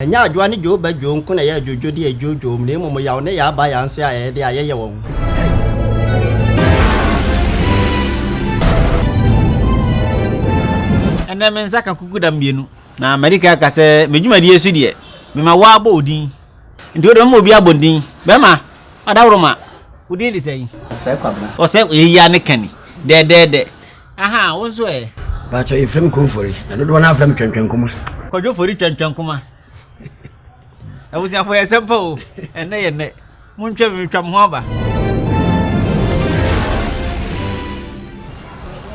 Ɛnyɛ adwoa ne dwoo ba dwoo nko na ɛyɛ adwodwo de adwoodwoo mu, na mmom yaw ne yaa ba yaa nso yɛ ayɛyɛde a yɛyɛ wɔ ho. Ɛnnɛ me nsa ka kukuda mmienu. Na madi kan aka sɛ, me dwumadie so deɛ, mema wo ara bɔ wo din. Nti wo deɛ mɛma obiara abɔ din. Bɛrima, Adaworoma, wo din de sɛn? Ɔsɛe Kwabena. Ɔsɛe, eyi ara ne ka ni. Dɛɛdɛɛdɛ, Ahaa, wo nso ɛ? Mpakyɛw, yɛfrɛ me Konfori, na dodoɔ no ara frɛ me Twɛntwɛnkuma. Kwadwo Fori Twɛntwɛnkuma. Abusuafo, ɛyɛ sɛm pa o. Ɛnnɛ yɛ nnɛ. Montwa me, metwa mo ho aba.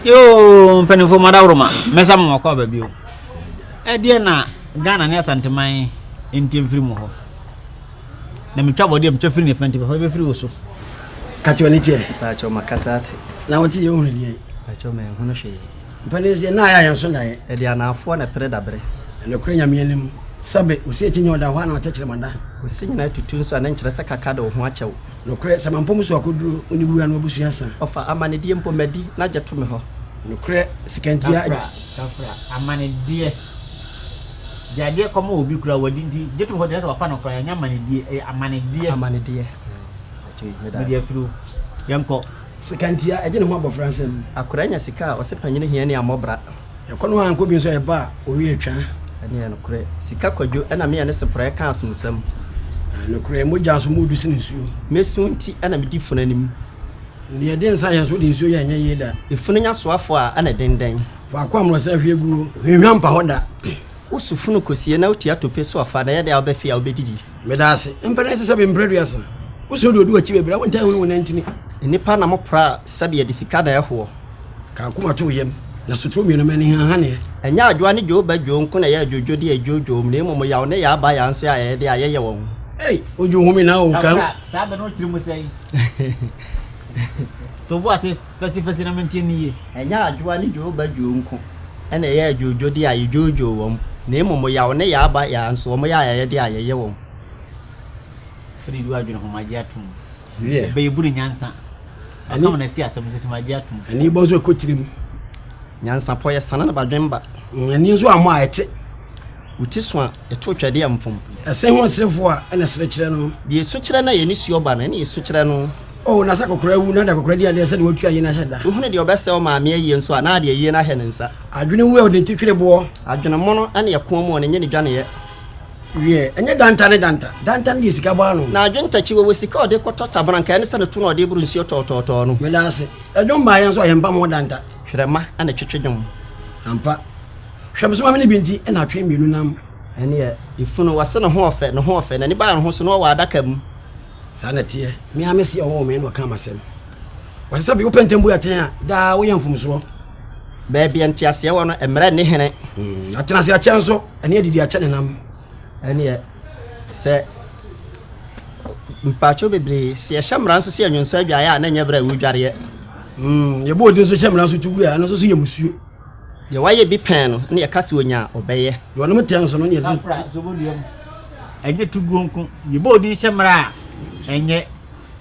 Yoo, mpanimfoɔ madaworoma, mɛsa mo makɔ aba bio. Ɛdeɛ na Ghana ne Asanteman nti mfiri mu hɔ. Na metwa bɔne a metwa firi ne fɛnte papa bɛfiri wo so. Ka kyerɛ ne teɛ. Mpakyɛ makata ate. Na wote yɛ wohunu deɛ. Mpakyɛ menhunu hwee. Mpanin sɛ na ayɛ yɛn so daeɛ. Ɛde anaafoɔ na pere dabre. Ɛnokorɛ nyame anim. Sɛbe wo sɛ akyinnye ɔda hɔ a na ɔtɛkyerɛ mada. Wo se nyina atutu nso a na nkyerɛ sɛ kaka de wo ho akyɛ wo. Nokorɛ sɛ mampɔ mu so akɔduro wo ne wura no abusua sa. Ɔfa amanedeɛ mpo madi na gye to me hɔ. Nokorɛ sika nti a. Kafra kafra amanedeɛ. De adeɛ kɔma obi koraa wadi nti gye tom hɔ deɛ sɛ wafa no koraa ɛnyɛ amanedeɛ ɛyɛ amanedeɛ. Amanedeɛ. Mede afiri wo. Yɛnkɔ. Sekantia ɛgye ne ho abɔfra nsam. Akora nya sika a ɔse panyini hia ni amɔbra. Yɛkɔ no a nkɔ bi nso a ɛba a owie atwa. Ɛne yɛ nokorɛ. Sika kwadwo ɛna me yɛ ne seporɛ ɛka asomsɛm. Nokorɛ mogya so mu du sene nsuo. Me su nti ɛna me di funu anim. Deɛ ɛde nsa yɛ nso de nsuo yɛ ɛnyɛ yie da. Efunu nya soafoɔ a ɛna ɛdendɛn. Faako a mmorɔsa hwie gu no, hwenhwa mpa hɔ da. Woso funu kosie na wotua tope so ɔfa, na ɛyɛ dɛn a wobɛfe a wobɛdidi? Meda ase. Mpɛ na ɛsɛ sɛ bempere aduasa. Wosoro deɛ ɔdi w'akyi bɛbrɛ, wontaa hunu wo nan ntini. Nnipa nam pra sɛbe yɛde sika na ɛhoɔ. Ka akoma to wo yam, na sotro mmienu ma anihahaneɛ. Ɛnyɛ adwoa ne dwoo ba dwoo nko na ɛyɛ adwodwodeɛ a ɛdwoodwoom, na mmom yaw ne yaa ba yaa nso yɛ ayɛyɛdeɛ a yɛyɛ wɔ ho. Ei, odwo home na o, ka ho. Saa bɛ no wo tiri mu sɛn? To bo ase fɛsifɛsi na mente no yie. Ɛnyɛ adwoa ne dwoodba dwoo nko na ɛyɛ adwoodwodeɛ a yɛdwoodwoo wɔn, na mmom yaw ne yaaba yaa nso, wɔn yaayayadeɛ a yɛyɛ wɔn. Wode du adwene ho, magye atom. Ɛbɛyɛ bu ne nyansa. Ɛkam na ɛsi asɛm nso, magye atom. Ani bɔ nso ɛkɔ tirim. Nyansapɔ yɛ sana na badwemba. Ani nso ammɔ a ɛte. Wo ti so a. ɛto twɛdeɛ a mfom. Ɛsɛ ho ɔserefoɔ a ɛna ɛsere kyerɛ no. Deɛ ɛsu kyerɛ no a yɛne suo ba no, ɛne ɛsu kyerɛ no. O na sɛ akɔkora awu na de akɔkora di adeɛ sɛ deɛ wɔatua ayie no ahyɛ da. Wohunu deɛ ɔbɛsɛe ɔmaame ayie nso a, na ade ayie no ahyɛ ne nsa. Adwene wu a ɔde ne ti twere boɔ. Adwene mono ne ɛkoɔ mu a ɔne nyɛ ne dwaneeɛ. Wiɛ, ɛnyɛ danta ne danta. Danta no deɛ sika bɔ ano. Na adwene ntakyi wɔwɔ sika a ɔde kɔtɔ tabena nka ɛne sɛ ne to na ɔde boro nsuo tɔɔtɔɔtɔɔ no. Meda ase. Ɛdwom baeɛ nso a yɛmpam ho danta. Hwerɛma na ɛtwetwe dwom. Ampa. Hwɛ, mesoma me ne bi nti na atwe mmienu nam. Ɛneɛ, efunu, wɔse ne ho ɔfɛ, ne ho ɔfɛ, n'ani baa ne ho so na ɔwɔ adaka mu. Saa na ɛteɛ, me ara mese ɔwɔ me na ɔka m'asɛm. Wɔse sɛ bi wopɛ ntɛm bu atɛn a, daa woyɛ mfomsoɔ. Baabi a nteaseɛ wɔ no, mmerɛ nni hene. Hmm, atena ase akyɛ nso, ɛne adidi akyɛ ne nam. Ɛneɛ, sɛ mpaakyɛw bebree, sɛ yɛhyɛ mmara nso sɛ yɛnwonsɔ adwaeɛ a na ɛnyɛ berɛ a ɛwudwareɛ. Hmm, yɛbɔ odi nso hyɛ mmara nso tu gu a, ɛno nso so yɛ musuo. Deɛ wayɛ bi pɛn no na yɛka sɛ ɔnya a, ɔbɛyɛ. Deɛ ɔnom tɛ nso no, ne yɛsi. Afra dwobodua mu. Ɛnyɛ to guo nko, yɛbɔ odin hyɛ mmara a, ɛnyɛ.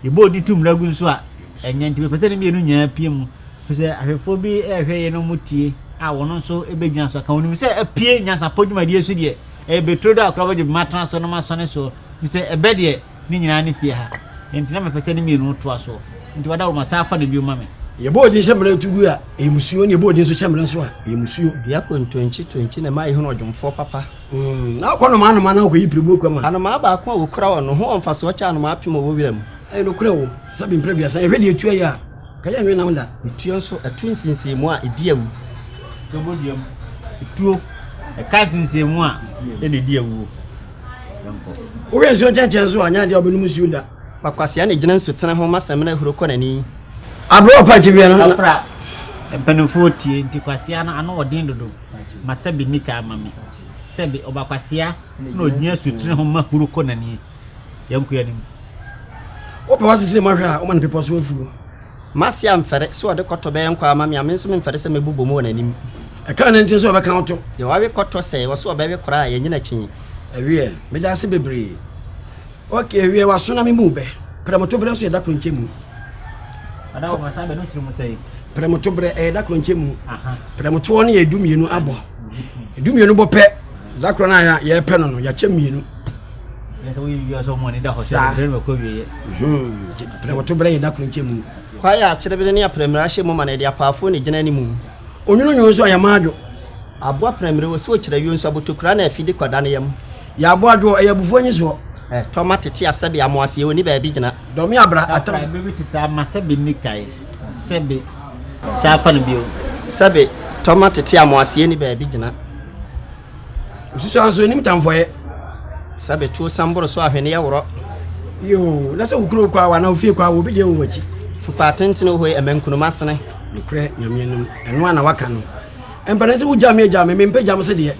Yɛbɔ odin to mmara gu nso a, ɛnyɛ. Nti mepɛ sɛ ne mmienu nyinaa pie mu, firi sɛ ahwɛfoɔ bi rehwɛ yei na wɔtie a, wɔn nso bɛgyina so aka. Wɔnim sɛ apue nyansapɔ dwumadie so deɛ, ɛyɛ bɛturo do a koraa wɔbɛgye bɛma atena so na wɔasɔne soɔ, firi sɛ ɛbɛ deɛ, Ne nyinaa ne fie ha. Enti na mepɛ sɛ ne mmienu no toa soɔ. Enti wadawuroma, san fa no bio ma me. Yɛbɔɔ din hyɛ mmara to gu a, ɛyɛ mo suo, na yɛbɔɔ din nso hyɛ mmara so a, ɛyɛ mo suo. Diakon Ntonkye Tonkye na ɛma yɛhunu ɔdwomfoɔ papa. Umm, na ɔkɔ nnomaa nnomaa na ɔkɔyi piribuo kwa ma. Anomaa baako a wɔkura wɔ no ho wɔ mfasoɔ kyɛ anomaa apem a wɔwɔ wira mu. Ɛyɛ nokorɛ o, sɛbe mprɛ aduasa, yɛhwɛ deɛ etuo yɛ a, anka yɛnnwe nam da. Etuo nso, ɛto nsensenmu a, ɛdi awu. Tuo bɔ dua mu. Etuo, ɛka nsensenmu a, ɛna ɛdi awuo. Wohwɛ nsuo nkyɛnkyɛn so a, nyɛ adeɛ a ɔbɛnom nsuo da. Kwakwasea na ɛgyina nsutene ho ma samina huro kɔ n'ani. Aberɛ ɔpa akyi biara no. Ɔfra mpanimfoɔ tie nti kwasea no ano ɔden dodo ma sɛbi nni taa ma me sɛbi ɔba kwasea na ɔgyina nsutene ho ma huro kɔ n'ani. Yɛnkɔ anim. Wopɛ w'asese ma hwɛ a woma no pepɔ so afuo. Marcia mfɛre sɛ ɔde kɔtɔ bɛyɛ nkwaa ama me a, me nso memfɛre sɛ mɛbobɔ mu wɔ n'anim. Ɛkaa ne nkyɛn sɛ ɔbɛka wo to. Deɛ wawe kɔtɔ sɛe, ɔse ɔbɛwe koraa a, yɛnyɛ n'akyinnye. Ɛweɛ, meda ase bebree. Ok, ɛweɛ, w'aso na me mu bɛ. Prɛmotoberɛ nso yɛ da koro nkyɛ mu. Ada wɔ bɛsa bɛ no tiri mu sɛe. Prɛmotoberɛ, ɛyɛ da koro nkyɛ mu. Prɛmotoɔ no yɛ du mmienu abɔ. Du mmienu bɔ pɛ, da koro no a yɛpɛ no no, yɛakyɛ mmienu. saa prɛmɔto berɛ yɛ da koro nkyɛ mu kwaeɛ a akyerɛbere ne aprɛmire ahyɛ mu ma na ɛde apaafoɔ na ɛgyina animu onwononwono nso a yɛma adwo aboɔ aprɛmire wɔ so ɔkyerɛ yio nso abotokura na afidi kɔda ne yam yɛ aboɔ adwoɔ ɛyɛ abufoɔ nyi soɔ tɔma tete asɛbe amoaseɛ wɔ ni baabi gyina dɔme abra atam bɛbi te saa ma sɛbe nikae sɛbe saa fa no bio sɛbe tɔma tete amoaseɛ ni baabi gyina Osusua nso onim tamfɔyɛ. Sɛ bɛtuo san boro so ahweneɛ worɔ. Yoo, na sɛ wo kuro kɔ awa na ofie kɔ awa obi deɛ wɔn akyi. Fupaa tentene hoi ɛmɛ nkunuma sene. Nokorɛ nyameɛ nom ɛno a na waka no. Ɛmpɛnɛ sɛ wogya me agya me me mpɛ gya mo se deɛ.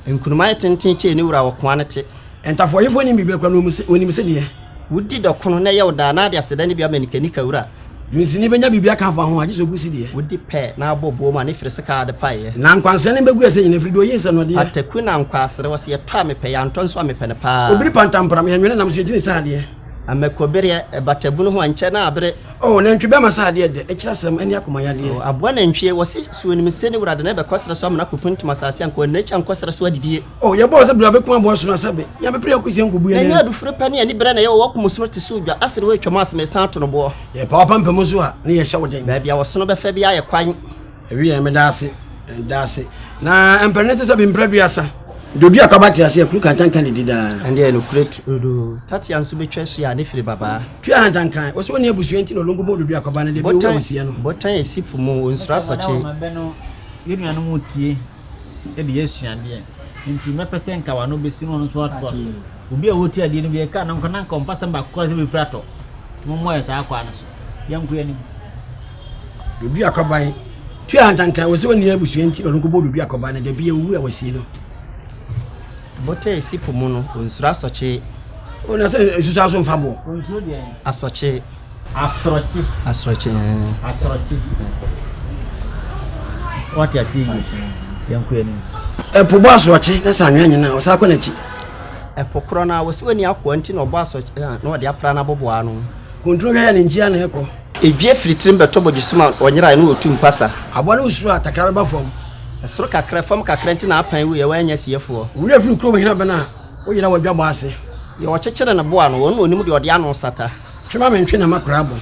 Nkunuma yɛ tenten kyɛɛ ne wura ɔkoa no te. Ntafoɔyefoɔ nim biribi akora na wɔnim se deɛ. Wodi dɔ ko no na ɛyɛ wo daa. N'ade aseda ne bi ama nikanika wura. Dunsini bɛnya biribi aka afa ho a, gye sɛ ɔbu sideɛ. Wodi pɛ na abɔ buo mu a, ne firi sekaa ade paeɛ. Na nkwansere no bɛgu ɛsɛ nyinaa, ɛfiri deɛ ɔyi nsɛnɔdeɛ. Pataku na nkwaasere, wɔse yɛtɔ a mepɛ, yɛantɔ nso a mepɛ no paa. Obiri pantampram, yɛnwene nam so, yɛgyini sɛ adeɛ. Ɛmɛkɔbereɛ, ɛbata bunu ho a, nkyɛ na abere. O, nantwi bɛma sɛ adeɛ dɛ, ɛkyerɛ asɛm, ɛne akoma yadeɛ. O, aboa nantwie, wɔse suo nim sɛ ne wura de no, ɛbɛkɔ serɛ so amena akɔfuntum asase anka, ɔnna akyi ankɔ serɛ so adidie. Oh, yɛ bɔɔ sɛ bere abɛkum aboa sono asɛ be yɛn bɛpere akɔ sɛ nkɔbu yɛn. N'anya adufiri pɛ ne ani berɛ na ɛyɛ wɔwɔ kum soro te so odwa asere wɔ atwam asem ɛsan ato no boɔ. Yɛ pa wapampam nso a ne yɛ hyɛ wo den. Baabi a wɔsono bɛfɛ biara yɛ kwan. Ewi yɛn meda ase meda ase na mpere ne sesa bi mpere aduasa. Dodua kaba te ase akuru kantanka ne di daa. Ɛnde ɛno kure dodo tatia nso bɛtwa ahyia a ne firi babaa. Tua hantankran wɔsɛ wɔne abusua nti na ɔlongo bɔ dodua kaba no deɛ bi ɔwɔ amusiɛ no. Botan ɛsi po mu ɔnsuro asɔkye. Yɛnuanom tie de yɛ asuadeɛ. Enti mɛpɛ sɛ nka wano bɛsi na ɔno nso atoa so. Obi a ɔreti adeɛ no bi ɛka na nka na nka ɔmpa sɛm baako kora sɛ bɛfiri atɔ. Mommɔ yɛ saa kwaa no so. Yɛnko yɛ anim. Dodo akwaban. Tua hantanka wɔ sɛ wɔnni abusua nti na ɔno nkɔbɔ dodo akwaban no dabi awu a wɔsie no. Bota esi po mu no, ɔnsuro asɔkye. Ɔna sɛ nsusu aso mfa boɔ. Ɔnsuro deɛ. Asɔkye. Asorɔkye. Asorɔkye ɛɛ. Eh. Asorɔkye. Wate ase yie yɛn kɔ anim. Ɛpo bɔ asorɔkye na sɛ anwea nyina ɔsan kɔ n'akyi. Ɛpo korɔ no a wɔsi wɔn ni akoa nti na ɔbɔ asorɔkye eh, na ɔde apra n'abobo ano. Kuntun hwɛ yɛ ne nkyia na ɛkɔ. Edwie firi tirim bɛtɔ bɔdwesum a ɔnyerae na ɔtu mpasa. Aboa no wosuro a takra bɛba fam. Ɛsoro kakra fam kakra nti na apan wu yɛ wɔanya siefoɔ. Wura firi kurom hena bɛn a woyera wɔadwa bɔ ase. Deɛ ɔkyekyere ne boa no wɔn na ɔnim deɛ ɔde ano sata. Twe ma mentwe na m'akora abɔ.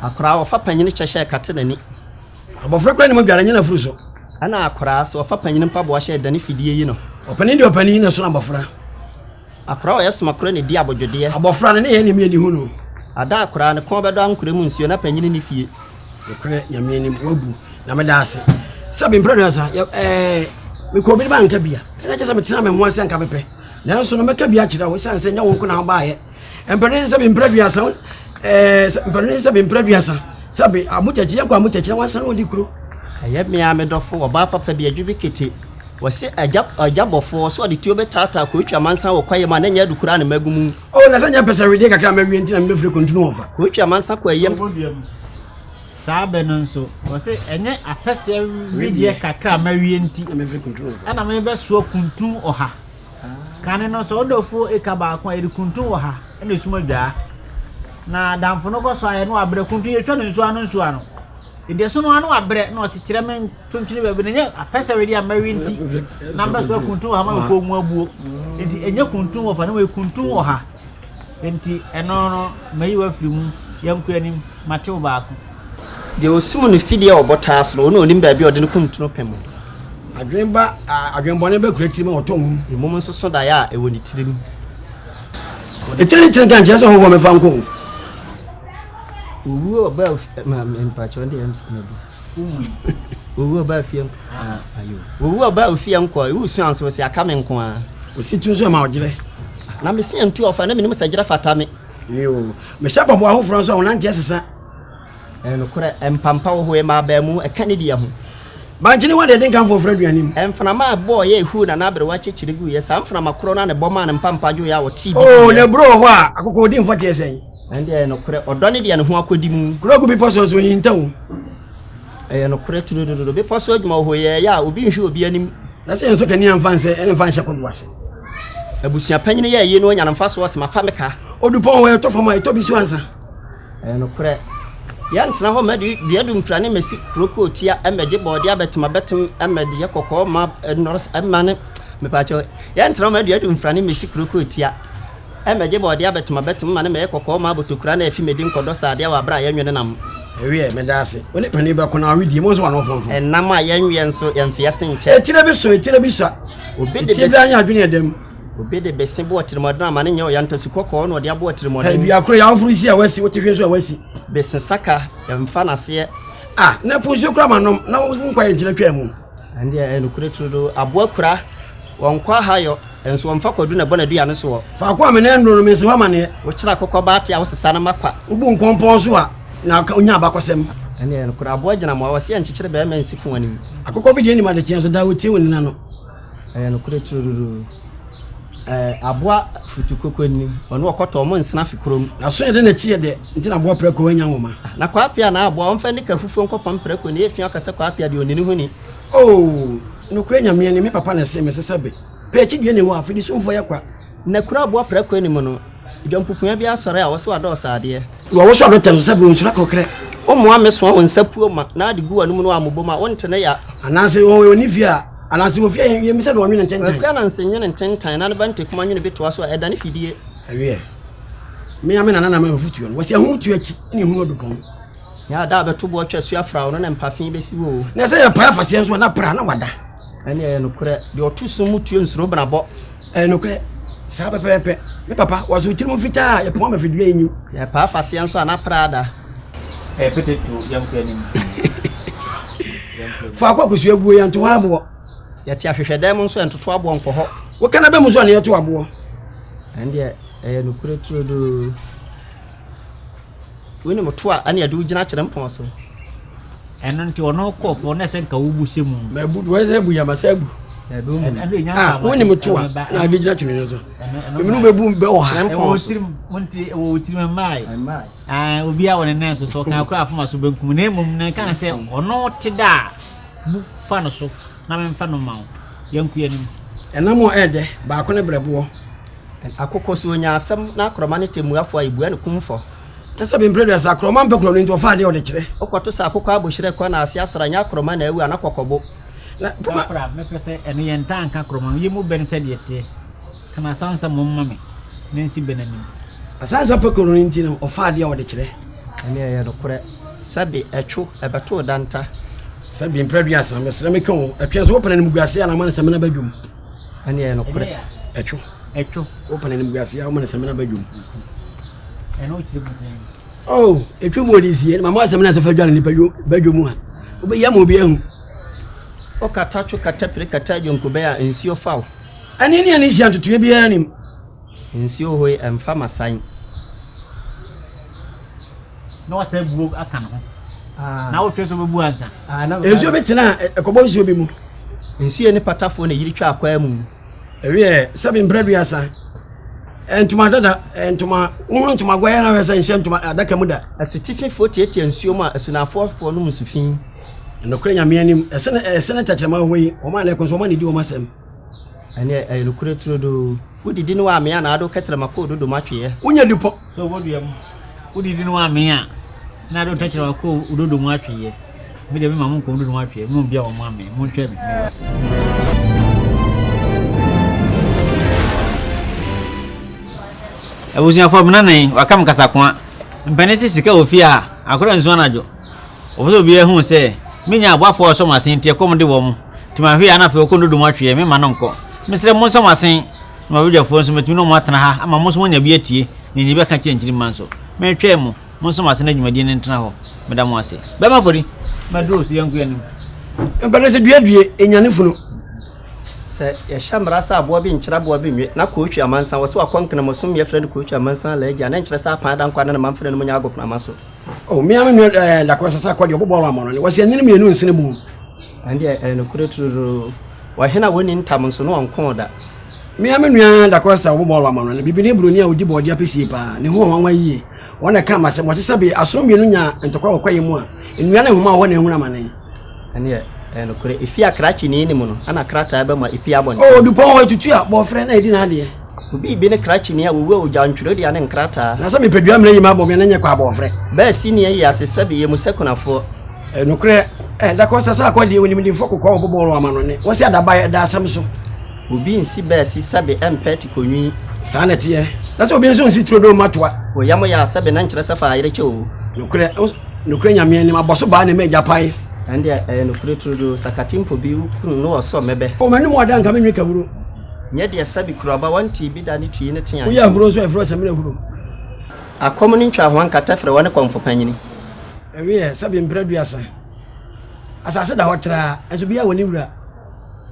Akora a ɔfa panyin kyɛ hyɛ kate n'ani. Abɔfra kura ne mu dware nyɛ n'afuru so. Ɛna akora sɛ ɔfa panyin mpaboa hyɛ dane fidie yi no. Ɔpanin deɛ ɔpanin na ɛsono abɔfra. Akora ɔyɛ soma kora na di abodwodeɛ. Abɔfra ne ne yɛ ne mi ani hu no. Ada akora ne kɔn bɛdɔ ankora mu nsuo na panyin ne fie. Nokorɛ nyame anim wabu na meda ase sɛ bi mprɛ asa ɛɛ eh, mekɔ obi ne ba nka bia ɛna kyɛ sɛ metena me ho ase anka mepɛ nanso no mɛka bi akyerɛ wo ɛsiane sɛ nyɛ wo nko na wobaayɛ mpanin sɛbi mpira duasa ɛɛ sɛ mpanin sɛbi mpira duasa sɛbi amukyakyi yɛ kɔ amukyakyi na wasan odi kuro. ɛyɛ mmea me dɔfo ɔbaa papa bi adwi bi kete wɔsi agya agya bɔfo ɔsɛ ɔde tuo bɛ taataa kɔ etwa mansa wɔ kwaeɛ mu a na nyɛ adu koraa ne mɛgu mu. o oh, na sɛ nyɛ pɛsɛ wedeɛ kakra mɛwie nti na mebɛfiri kɔntunu wɔ fa. kɔ etwa mansa kɔ ɛyam. saa bɛ no nso wɔsi ɛnyɛ apɛsɛ wedeɛ kakra mɛwie nti ɛna mebɛsoɔ kuntun ɔha. Kane no, sɛ wo dɔfoɔ reka baako a, yɛde kuntun wɔ ha na esum adwaa. Na damfo no kɔ so ayɛ na wabrɛ. Kuntun yɛtwa no nsuo ano nsuo ano. Nti ɛso no ano wabrɛ na ɔsi kyerɛ me ntonkyene baabi na nyɛ apɛsɛre deɛ mmɛwe nti na mbɛso akuntun wɔ ha ma mekɔɔ mu abuo. Nti ɛnyɛ kuntun wɔ fa no kuntun wɔ ha. Nti ɛno no mayi wafiri mu yɛnkɔ anim matew baako. Deɛ ɔsum no fidie a ɔbotaa so no, ɔno na ɔnim baabi a ɔde no kuntunu pɛ mu. Adwene ba, adwene bɔne ba kura tirim a ɔtɔ nwom. Mmom nso so daeɛ a ɛwɔ ne tirim. Ɛkyɛ ne kyerɛ nkyerɛ sɛ hɔhoɔ mɛfa nkɔ o. Owuo ɔba mpakyɛw de ɛms na bi. Owuo ɔba fie ayo. Owuo ɔba ofie nkɔ. Ewu su anso sɛ aka me nko a. Osi tu nso ma ɔgyerɛ. Na me se ntu ɔfa na menim sɛ gyerɛ fata me. Yo. Mehyɛ bɔbɔ ahoforɔ nso a wɔnante ɛsesa. Ɛyɛ nokorɛ, mpampã wɔ hɔ, ɛma abaa mu, ɛka ne deɛ ho. Bankye ne wɔn deɛ ɛde nkamfoɔ fra aduane mu. Mframa a ɛbɔɔ yɛɛ huu na n'aberewa kyekyere guiɛ, saa mframa korɔ no ara na ɛbɔ maa ne mpampã dwoeɛ a ɔtee bi guiɛ. O na aburo wɔ hɔ a akokɔɔdimfoɔ teɛ sɛn? Ɛnde ɛyɛ nokorɛ, ɔdɔ ne deɛ ne ho akɔdi mu. Kuro gu bepɔ so nso, ɔhinta o. Ɛyɛ nokorɛ turodododo, bepɔ so adwuma wɔ hɔ, ɛyɛ ɛyɛ a obi nhwe obi anim. Na sɛ yɛnsɔ kanea mfa nsɛ, ɛmfa nhyɛ kodoɔ ase. Abusua panyin yɛ ayi na ɔnya no mfasoɔ sɛ mafa me ka. Ɔdupɔn hɔ a ɛtɔ fam a ɛtɔ bi so ansa. Ɛyɛ nokorɛ. Yɛntena hɔ mɛde dua dumfira ne mɛsi kuro kootia mɛgye bɔɔdeɛ abɛtem abɛtem mɛdeɛ kɔkɔɔ ma nɔrɔs ma ne mepaakyɛw yɛntena hɔ mɛde dua dumfira ne mɛsi kuro kootia mɛgye bɔɔdeɛ abɛtem abɛtem ma ne mɛyɛ kɔkɔɔ ma abotokura na afi mɛdi nkɔdɔ saadeɛ wɔ abere a yɛnwene nam. Ɛweɛ mɛda ase. Wo ne panin bɛko na awedie mo nso wano fɔnfɔn. Ɛnam a yɛnweɛ nso yɛnfeɛ se nkyɛ. Etire bi sɔ etire bi sua. Obi de bɛsi. Etire bi anya adwene ɛdam. Obi de bese bɔ ɔtirimmɔden ama ne nyɛ ɔya nta su kɔkɔɔ na ɔde abɔ ɔtirimmɔden. Ɛbi akoro yɛ awoforo si a wasi wote hwɛ so a wasi. Bese saka mfa n'aseɛ. Ah, na po nsuo kura ma nom na nkwa yɛ nkyina twaa mu. Ɛndeɛ ɛnukure turo do aboa kura wɔn kɔ ahayɔ nso wɔn fa kɔdu na ɛbɔ n'aduane soɔ. Faako a menɛ nnuro no mensi hɔ amaneɛ. Wokyerɛ akokɔ baate a wosesa no ma kwa. Wobu nkɔmpɔn so a na onya abakɔsɛm. Ɛndeɛ ɛnukure aboa gyina mmoa wɔsi ɛnkyekyere bɛrima nsi ko anim. Akokɔ bi deɛ nim adekyeɛ nso daa otie wɔ nina no. Ɛyɛ nokorɛ turodoo. Ɛɛ aboa futu koko ni, ɔne ɔkɔtɔ ɔmo nsena fi kurom. N'aso yɛ dɛ n'akyi yɛ dɛ, nti na aboa prako annya nwoma. Na Kwaapea na aboa, ɔmfa nnika fufuo nkɔpam prako, nea efia ɔka sɛ Kwaapea deɛ ɔni ne ho ni. Oo, nokorɛ Nyame ani, me papa na ɛsee me sɛ sɛ be, pɛ akyidie na ɛwɔ ha, fidisumfoɔ yɛ kwa. Na kuro aboa prako anim no, dwampukua bi asɔre a wɔso adɔɔ saadeɛ. Na wɔso adɔ tɛm so sɛ bonsura kɔkrɛ. Wommoa mmesoa wo nsa puo ma, na ade gu w'anom no a mobɔ mu a, wonte ne ya. Anaase wɔn a wɔnni fie a. Anaase wɔ fie a yɛn mu sɛ deɛ wɔnwene ntentan. Akua nanse nwene ntentan, na ne ba ntakuma nwene bi toa so a, ɛdane fidie. Ɛweɛ. Me ara me nana na m'afotuo no, wɔse ahum tu akyi na ehunu adu pɔn. Na da a bɛto boɔ twa su afra wo no na mpa fi bɛsi wo o. Na sɛ yɛpae afaseɛ nso a, na pra na wada. Ɛnneɛ ɛyɛ nokorɛ, deɛ ɔto sum mu tuo nsuro benabɔ. Ɛyɛ nokorɛ, saa pɛpɛɛpɛ. Me papa, wɔse wo tirim fitaa a, yɛ poma ma fidua nyi. Yɛ paa faseɛ nso a, na Prada. Ɛyɛ pete to yɛn kɔ anim. Faako a kosua guo yɛ nto hɔ aboɔ. Yɛte ahwehwɛdan mu nso yɛ ntoto aboɔ nkɔ hɔ. Woka na bɛ mu nso a na yɛto aboɔ. Ɛndeɛ ɛyɛ nokorɛ turodoo. Wone mo toa ɛne ɛde wo gyina kyerɛ mpɔn so. Ɛno nti ɔno kɔɔfoɔ na ɛsɛ nka wobu sɛ mu. Mɛ bu wɔn sɛ bu yɛ masa bu. Ah, wone mo toa na ɛde gyina twene so. Ɛmi no bɛbu bɛ wɔ ha. Kyerɛ mpɔn so. Ɛwɔ wɔ tirim mmae. Ah, obi a wɔne nan so so ɔka akora afoma so benkum na mmom na ɛka sɛ ɔno te da a bu fa no so. Na memfa no mma wo. Yɛnko yɛanim. Ɛnam a ɛyɛ dɛ, baako ne berɛboɔ. Akokɔ so ɔnya asɛm na akorɔma ne tɛmmuafoɔ a yɛbua no kumfɔ. Kyɛ sɛ bempere dɛ sɛ akorɔma mpɛ korɔ no nti ɔfa adeɛ a ɔde kyerɛ. Wokɔto sɛ akokɔ abohyerɛ kɔ na ase asɔre a ɛnyɛ akorɔma na awu ana kɔkɔbo. Na poma. Saa kora mɛpɛ sɛ ɛno yɛ ntaa nka akorɔma no yɛ mu bɛn sɛdeɛ ɛteɛ. Ka no asansa mmom ma me na nsi bɛn anim. Asansa pɛ korɔ no nti no ɔfa adeɛ a ɔde kyerɛ. Ɛnneɛ ɛyɛ nokorɛ sɛ be ɛtwo ɛbɛtoo danta. Sɛ bie mpere aduasa mesrɛ me ka o ɛtwe so wopɛn animguase a na ama ne sɛmina ba dwom ɛne ɛyɛ nokorɛ ɛtwo ɛtwo wopɛn animguase a woma ne sɛmina ba dwom ɛno kyerɛ mu sɛ oh ɛtwa mu ɔde sie mama asɛmina sɛ fa dwa ne nipa ba dwom a wobɛyɛ ma obi ahu ɔkata two kata pere kata adwonkobɛɛ a nsuo fa wo ɛne ne ɛne hyia ntotoeɛ biara nim nsuo hɔ ɛmfa masan na wasan abuo aka ne ho ah. na wotwe sɛ wobɛbu ansa ah, nsuo bi tena ɛkɔbɔ nsuo bi mu nsuo ne patafoɔ na yiri twa akwaa mu ɛwiɛ sɛbi mprɛ duasa ntoma dada ntoma wohunu ntoma guayɛ na wɛsɛ nhyɛ ntoma adaka mu da asutififoɔ tiatia nsuo mu a asunafoɔfoɔ no mu nsufi nokorɛ nyame anim ɛsɛ ne tɛkyerɛma hɔ yi ɔma ne ɛko so ɔma ne di ɔma sɛm Ɛneɛ ɛyɛ nokorɛ turodoo. Wo didi ne w'amee a naado kɛtrɛma kɔɔ dodo m'atweeɛ. Wo nya dupɔ sɛ wɔ dua mu. Wo didi ne w'amee a naado kɛtrɛma kɔɔ dodo mu atweeɛ. Me deɛ me ma mo nkɔ dodo mu atweeɛ, mo mbia wɔ mo amee, mo ntwɛn me, me wura. Abusuafoɔ me nana yi waka me kasakoa. Mpanin se sika wɔ fie a akora nsu anadwo. Wɔpɛ sɛ obiara hu sɛ menya aboafoɔ a wɔsɔ mo asenteɛ kɔm de wɔn. Nti manhwɛ yie na afei ɔkɔ Nodom atweɛ, memma no nkɔ. Mesrɛ monsɔ mo asen na m'abadwafoɔ nso mɛtumi ne wɔn atena ha ama mo nso moanya bi atie na nya bi aka akyerɛ nkyirimma nso. Metwɛn mo, monsɔ mo asen na dwumadie no ntena hɔ. Meda mo ase. Bɛma afɔri. Maduro so yɛnko anim. Mpɛnɛ sɛ dua due, ɛnyane funu. Sɛ yɛhyɛ mmara sɛ aboa bi nkyere aboa bi nnwe, na Kootwi amansan wɔ sɛ wakɔ Nkenamosom mmea frɛ no Kootwi amansan alaa agya a, na ɛnkyerɛ sɛ Apan ada nkwa na ne mamfre nom nyɛ agoprama so. Oh, me ara me nua eh, Dakoa Sasa Akɔ deɛ ɔbɔ bɔɔl ama no, ɔse anyini mmienu nsene mu. Ɛndeɛ ɛyɛ nokorɛ turodoo. Ɔhene a wɔnni ntam nso na ɔnkoo da. Me ara me nua Da Costa a ɔbɔ bɔɔlo ama no, no bibini ne buroni a ɔdi bɔɔdeɛ apesie pa ara. Ne ho wɔ nwanwa yie. Wɔn na ɛkaa m'asɛm. Wɔte sɛ bee asono mmienu nya ntɔkwa wɔ kwaeɛ mu a, nnua ne nhoma wɔ hɔ na ɛhunu amane. Ɛndeɛ ɛyɛ nokorɛ. Ɛfiri akra kyinii no mu no na krataa bɛma ɛpue abɔnten. Oo, dupɔn hɔ, ɛtutu a, bɔɔferɛ na ɛdi n'adeɛ. Obi bi ne krakyeni a wowua ogyaw ntwerɛdua ne nkrataa. Na sɛ mepadua mmerɛ yi ma abɔ me a na nyɛ kwa abɔ ɔfrɛ. Bɛɛ si nea ɛyɛ ase sɛbe yɛ mu sɛ kunafoɔ. Eh, nokorɛ, eh, da kɔ sɛ sɛ akɔ deɛ onimdimfoɔ kokɔ wɔ bobɔ wɔn ama no ne, wɔsi adabaeɛ ɛda asɛm so. Obi nsi bɛɛ si sɛbe ɛmpɛ te konwi. Saa na ɛteɛ. Na sɛ obi nso nsi turodoo mma toa. Oyam yaa sɛbe na nkyerɛ sɛ fa ayere kyɛ oo. Nokorɛ, nokorɛ Nyame anim, abɔ so baa na ɛma agyapae. Ɛndeɛ ɛyɛ nokorɛ turodoo, sakate mpo bi, wo kunu ne wɔ sɔ mmɛbɛ. Oh, m'anom ɔda nka me nwe kawuro. Nyɛ deɛ sɛbe kuro aba wɔntee bi da ne tui ne teae. Woyɛ ahuro nso a ɛfiri hɔ sɛ mena huro. Akɔm ne ntwahoa nkata firi hɔ ne kɔmfo panyini. Ɛweɛ sɛbe mprɛ duasa. Asase da hɔ traa nso biaa wɔ ne wura.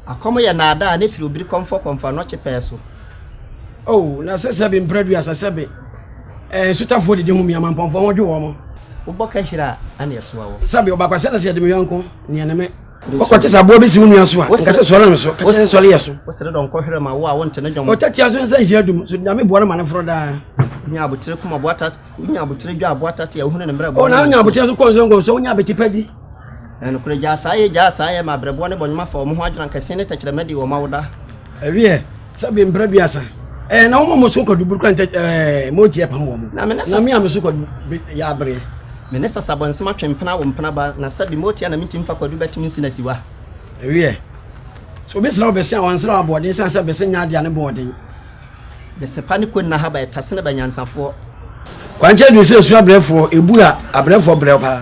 Akɔm yɛ naadaa ne firi obiri kɔmfɔ kɔmfɔ anɔkye pɛɛ so. Oh na sɛ sɛbe mprɛ duasa sɛbe eh, nsutafoɔ didi ho mia mampɔnfoɔ ho dwo wɔn. Wobɔ ka hira a ɛna ɛsoa wɔ. Sɛbe ɔbakwasɛn na sɛ yɛde me yɔnko neɛ ne me. Ɔkɔte sɛ aboa bi si wo nua so a, nka sɛ sɔre nso, ka kyerɛ nsɔre yɛ so. Wosere dɔ nkɔhwerɛ ma wo a wonte ne dwom. Ɔtatia so nsa nhyia dum, so Nyame boa no ma no foro daa. Wonya abotire kuma boa tat, wonya abotire dwa aboa tate a wohunu ne mmerɛ boa. Ɔna wonya abotire so kɔnso nkɔnso, wonya abetipɛ di. Ɛnokorɛ gyaa saa yɛ gyaa saa yɛ ma abrɛboɔ ne bɔnwoma fa wɔn ho adwene ankɛse ne tɛkyerɛmɛ de wɔn awoda. Ɛwiɛ. sɛbi mpra biasa ɛɛ eh, na wɔn a wɔn so kɔdu buru kura ntɛ ɛɛ eh, mo gye ɛpam wɔn na mi ne sasa na mi a mi so kɔdu yɛ abere. mi ne sasa bɔ nsɛm atwe mpena wɔ mpena ba na sɛbi mo tia na mi ti nfa kɔdu bɛtumi nsi na si wa. ewiɛ so obi sra ɔbɛsi a wɔnsra aboɔden san sɛ bɛsɛ nya adeɛ ne boɔden. bɛsɛ pa ne kɔ nna ha ba ɛtase ne ba nyansafoɔ. kwankyɛn du sɛ esu abrɛfoɔ ebu a abrɛfoɔ brɛ paa.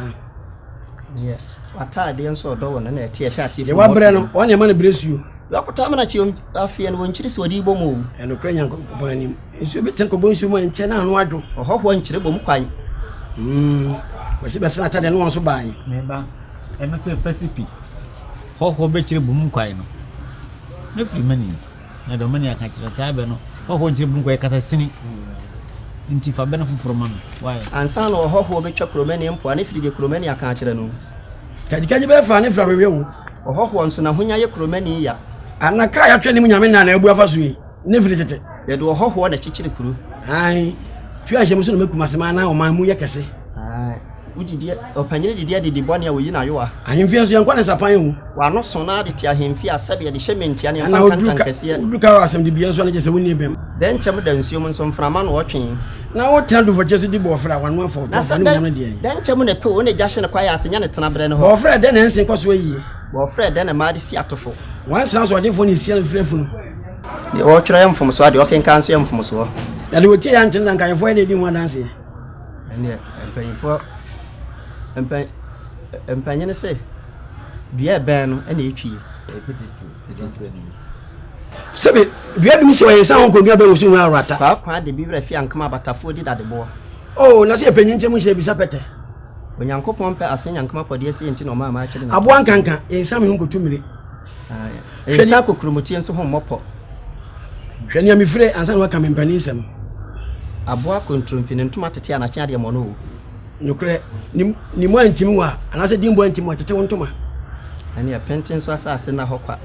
deɛ w'ataadeɛ nso ɔdɔ wɔ no na ɛte ɛhwɛ aseɛ deɛ wabrɛ no wɔn nneɛma no brɛ suo wakɔtɔ amena kyi afeɛ no wɔnkyiri sɛ wɔde bɔ mu o ɛnokorɛ nyankopɔn anim nsuo bi ten kɔbɔ nsuo mu a nkyɛ na ano adwo ɔhɔhoɔ nkyerɛ bɔ mu kwan hmm. wɔsi bɛsena ataadeɛ no wɔn so baae meba ɛno sɛ fasipi hɔhoɔ bɛkyerɛ bɔ mu kwan no mɛfiri mani Na Dominia ka kyerɛɛ saa bɛ no, Hɔhoɔ nkyerɛ bun kɔyɛ kasa sini, nti fa bɛ no foforɔ ma me. Why? Ansa na ɔhɔhoɔ bɛtwa Kuromani mpoa no firi deɛ Kuromani aka akyerɛ no. Kagyikagyi bɛɛ faa ne fra hwehwɛ wo. Ɔhɔhoɔ nso n'ahonya yɛ Kuromani ya. Ana ka a yɛato anim Nyame nna anaa abu afa so yi ne firi tete? Yɛde ɔhɔhoɔ na ɛkyekyere kuro. Aane, tua nhyɛmu so na ma Kumasi man anaa ɔman mu yɛ kɛse. Aane. Wo didie, ɔpanyin didie adidi bɔne a wɔyi no ayowa. Ahemfie nso, yɛnkɔ ne nsapan awu. W'ano so na de te ahemfie a sɛdeɛ de hyɛ mmɛntia ne mfa nkantankɛseɛ. Wodu ka wɔ asɛmdibea nso a na kyerɛ sɛ wonni bem. Dɛn kyɛm da nsuom nso mframa ano ɔtwe. Na wotena dufɔkyeɛ so di bɔɔferɛ a w'ano afɔ, tɔmfɔ ne mmoa no deɛ. Na sɛ dɛn kyɛm na ɛpew wo ne gya hye no kwaeɛ ase nya ne tenaberɛ no hɔ. Bɔɔferɛ dɛn na ɛnsen kɔ so ayie. Bɔɔferɛ dɛn na mmaa de si atofo. Nwansena so ɔdefoɔ na ɛsi mfiri afunu. Deɛ ɔtwerɛ yɛ mfomsoɔ a deɛ ɔkenkan nso yɛ mfomsoɔ. Na deɛ ɔtie yɛ antene na anka ahemfo ayɛ na ɛdi ho adanseɛ. Ɛnneɛ mpanimfoɔ mpa mpanyin se dua ɛbɛn no ɛna etwi. sɛbi dua bi si ɔyɛ nsa ho nkonnwa bɛn wusu ho awurata. kwaakwa de bi wura fi ankama abatafoɔ di dadeboɔ. oo na sɛ ɛpanyin nkyɛn mu hyɛ bisa pɛtɛ. onyankopɔn pɛ ase nyankama kɔdeɛ sɛ nti na ɔma ama akyere na aboa nkanka ɛnsame ho nkɔtu mmire Nsa kokuromotue nso ho mmɔ pɔ. Hwɛ nea mefire ansa na waka me mpanin nsɛm. Aboa kontromfi ne ntoma tete a n'akyen adeɛ mmɔno o. Nokorɛ ne mu antim wa anaasɛ dimbo antim wa tete wo ntoma. Ɛneɛ pɛnte nso asase nna hɔ kwa.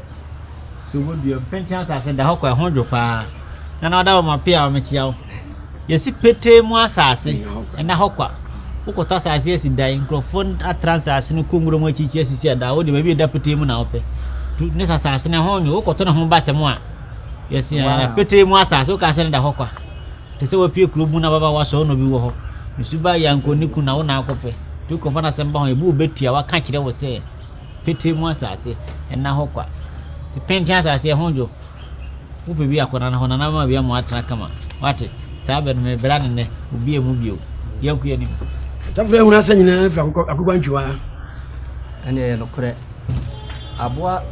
Sɛ wobɛdua pɛnte asase da hɔ kwa ɛho dwo paa. Nana ɔda wɔ ma pia ɔmekyia wo. Yɛasi petee mu asase, ɛnna hɔ kwa. Wokɔtɔ asase asi dan, nkurɔfoɔ atra asase no kɔ nwura mu akyirikyiri asisi adan, wo deɛ baabi a ɛda petee mu na wopɛ. Tu ne sɛ asase no ɛho nwo, wokɔtɔ ne ho ba sɛ mo a, yɛsi ɛɛ petee mu asase, woka sɛ ne da hɔ kwa. Te sɛ wapue kuro mu na baba wasɔ ɔnɔ bi wɔ hɔ. Nsu ba yanko ne ku na wo na akɔpɛ. Tu kɔfa no asɛm ba ho, ebi wobɛtua, waka kyerɛ wo sɛ petee mu asase, ɛnna hɔ kwa. Te penten asase ɛho dwo, Wo pɛ bi akɔ nana hɔ, nana bɛma bia ma watena kama. Wate? Saa bɛ no, me bra ne nɛ, obi emu bio. Yɛn kuya nim. Ɔtafra ehunu asɛ nyinaa fira akokɔ akokɔ ntwiwa. Ɛne ɛyɛ no korɛ. Aboa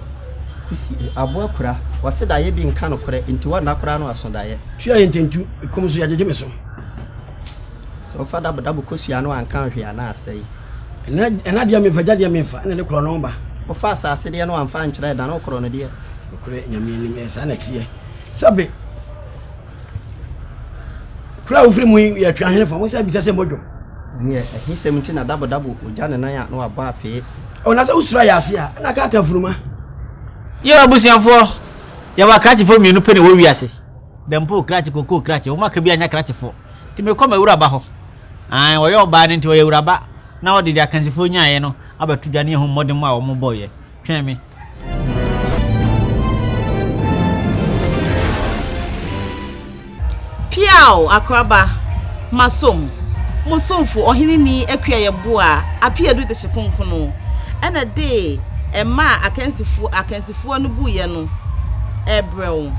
kusi, aboa kura, wɔse daeɛ bi nka no korɛ, nti wɔnna koraa no aso daeɛ. Tua yɛ ntentu, ekom so yɛgyegye me so. Sɛ ɔfa dabo dabo kosua no anka nhwe a na asɛe. Ɛna ɛna deɛ mefa gya deɛ mefa ɛna ne korɔ no ba. Ɔfa asase deɛ no anfa nkyerɛ ɛda no korɔ no deɛ. Nokorɛ Nyame anim ɛyɛ saa na ɛteɛ. Sɛbe kuro a wofiri mu yi yɛ Tweahenefo, mo sɛ bisa sɛ modwo. Neɛ ahisɛm nti na dabodabo ogya ne nan a na wabɔ apee. O na sɛ wosuro ayɛ ase a, na kaaka funuma. Yɛ abusuafoɔ, yɛwɔ akrakyefoɔ mmienu pɛ na ɛwɔ wiase, Dampoo krakye, Kokoo krakye, wɔn aka biara nyɛ akrakyefoɔ, nti mekɔ m'awuraba hɔ, aane, ɔyɛ ɔbaa no nti ɔyɛ awuraba, na ɔde deɛ akansifoɔ nyaaeɛ no abɛto dwa ne ahummɔdemmɔ a wɔbɔeɛ. Twɛn me. Piaw, akoraba, masom, mo somfo ɔhene ni akua yɛ bo a apia du de hye konkono, ɛna de ɛma a akansifoɔ akansifoɔ no bu yɛ no ɛbrɛ wo.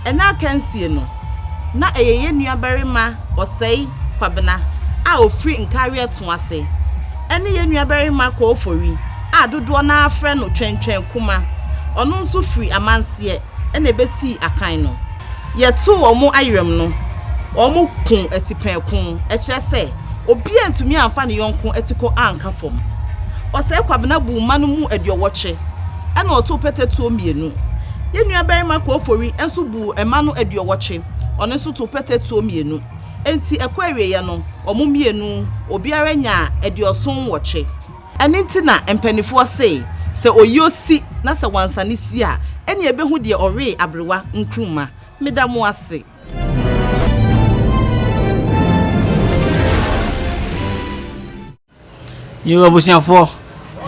Ɛna akansie no, na ɛyɛ yɛ nuabarima Ɔsɛe Kwabena a ɔfiri Nkareɛ Toase, ɛne yɛ nuabarima Kɔɔfori. a dodoɔ no ara frɛ no Twɛntwɛn Kuma, ɔno nso firi amanseɛ na ɛbɛsii akan no. Yɛtoo wɔn ayerɛm no, wɔko atipɛn ko, ɛkyerɛ sɛ, obiara antumi amfa ne yɔnko atikɔ anka fam. Ɔsɛe Kwabena buu mma no mu aduɔwɔtwe, ɛnna ɔtoo pɛtɛtuo mmienu. Yɛn nuabarima Koofori nso buu mma no aduɔwɔtwe, ɔno nso too pɛtɛtuo mmienu. Enti ɛkɔ awieeɛ no, wɔn mmienu, obiara nyaa aduɔson nwɔtwe. Ɛno nti na mpanimfoɔ se, sɛ ɔyuo si na sɛ wansane sie a, ɛnneɛ ɛbɛhu deɛ ɔwee aberewa nkruma. Meda mo ase. Yoo abusuafoɔ,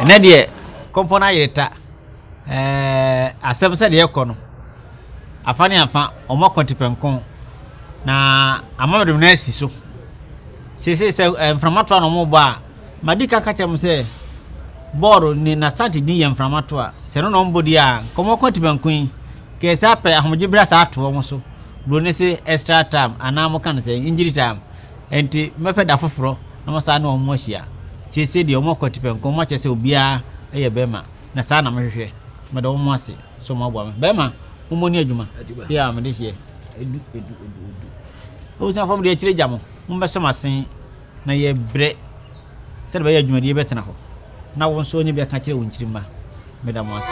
ɛnɛ deɛ kɔmpɔ no ayere ta. Ɛɛ asɛm sɛ deɛ ɛkɔ no, afa ne afa, wɔn akɔ tepɛnko na ama wɔde wɔn asi so. Seesei sɛ mframa toa na wɔrebɔ a, Madi kan ka kyerɛ mo sɛ, Bɔɔl ne n'asante din yɛ mframa to a, sɛ ɛno na wɔbɔ di a, nkɔmmɔ ko atibanko yi, kɛɛ saa pɛ, ahomegye bere asa ato wɔn so. Buroni se extra time, anaa wɔka no sɛ injury time. Enti, mɛpɛ da foforɔ na masan ne wɔn ahyia. Seesei deɛ, wɔakɔ atipɛnko, wɔakyerɛ sɛ obiara yɛ bɛrima, na saa na mehwehwɛ. Meda wɔn ase sɛ wɔaboa me. Bɛrima, mommɔ ne adwuma. Yeah, mede hyɛ. Abusuafoɔ, mede akyire gya mo. Mommɛsɔ m'asen. Na yɛbrɛ sɛdeɛ ɛbɛyɛ adwumadie bɛtena hɔ na wo nso wanya bi aka kyerɛ wo nkyirimma. Meda mo ase.